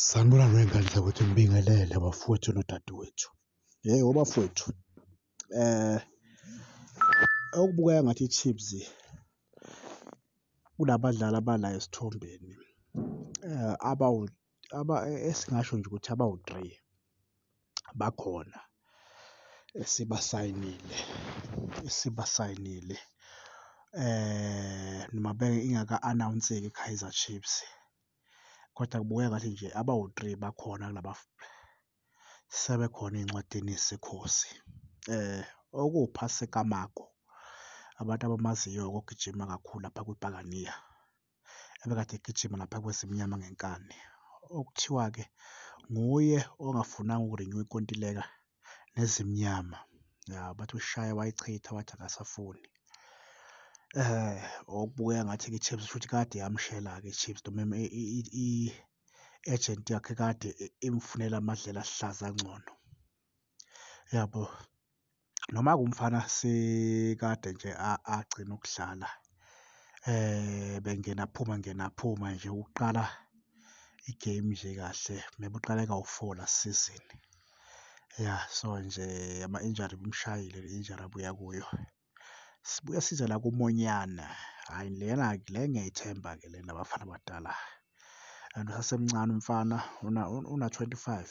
Sanibonani wey'ngane ukuthi ngibingelele bafowethu nodadewethu. Hheyi obafowethu okubukeka ngathi i-Chiefs kunabadlali abala esithombeni esingasho nje ukuthi abawu-three. bakhona esibasayinile esibasayinile noma beke ingaka-anawunseki iKaizer Chiefs kodwa kubukeka ngathi nje abawu-three bakhona kulaba sebekhona ey'ncwadini zeKhosi. OkuwuPaseka Mako abantu abamaziyo ngokugijima kakhulu lapha kwiPhakaniya. ebekade egijima lapha kweZimnyama ngenkani, okuthiwa-ke nguye ongafunanga ukurinywa inkontileka neZimnyama. Ya bathi ushaya wayichitha wathi akasafuni. Eh, okubukeka ngathi-ke iChiefs futhi kade yamshela-ke iChiefs noma i-agent yakhe kade imfunela amadlela ahlaza ngcono. Uyabo? Noma kuwumfana sekade nje agcina ukudlala bengena phuma ngena phuma nje uqala i-game nje kahle maybe uqale kawu-four last season. Ya so nje ama-injury imshayile le injury abuya kuyo. Sibuya size la kuMonyane, hhayi lena-ke le ngiyayithemba-ke lena Bafana Badala and usasemncane umfana una-twenty five.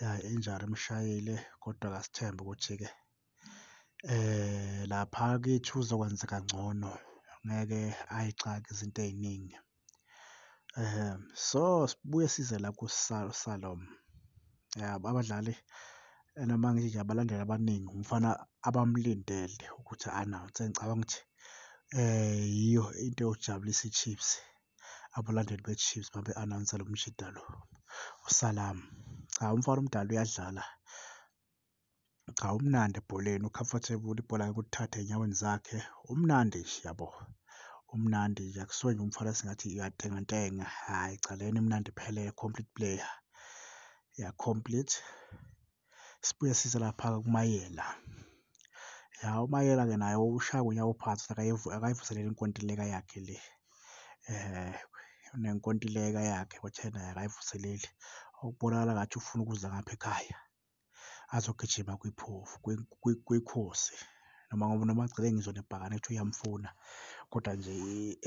Ya injalo imshayile kodwa kasithembe ukuthi-ke lapha kithi kuzokwenzeka ngcono, ngeke ayixake izinto ey'ningi. So sibuye size la kuSalom, ya abadlali noma ngithi nje abalandeli abaningi umfana abamlindele ukuthi a-announce-e ngicabanga ukuthi yiyo into eyojabulisa iChiefs. abalandeli beChiefs babe announce lo mshida lo uSalam cha umfana omdala uyadlala cha umnandi ebholeni u-comfortable ibhola ngikuthatha enyaweni zakhe umnandi nje yabo umnandi nje akusuke nje umfana sengathi uyatengantenga hhayi cha lena imnandi iphelele complete player ya complete. Sibuye size lapha-ke kuMayela. Ya uMayela-ke naye ushaya ngonyawo phansi akayivuseleli inkontileka yakhe le unenkontileka yakhe kuthe naye akayivuseleli okubonakala ngathi ufuna ukuza ngapha ekhaya azogijima kwiphofu kwikhosi noma ngoba noma agcine ngizwe nebhakane ethi uyamfuna kodwa nje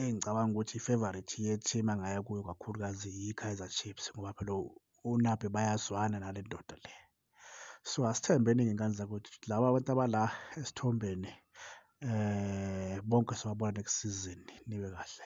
engicabanga ukuthi i-favourite ye-team angaya kuyo kakhulukazi i-Kaizer Chiefs ngoba phela uNabi bayazwana nale ndoda le. So asithembeni ngey'ngane zakwethu ukuthi laba abantu abala esithombeni bonke siwabona next season, nibe kahle.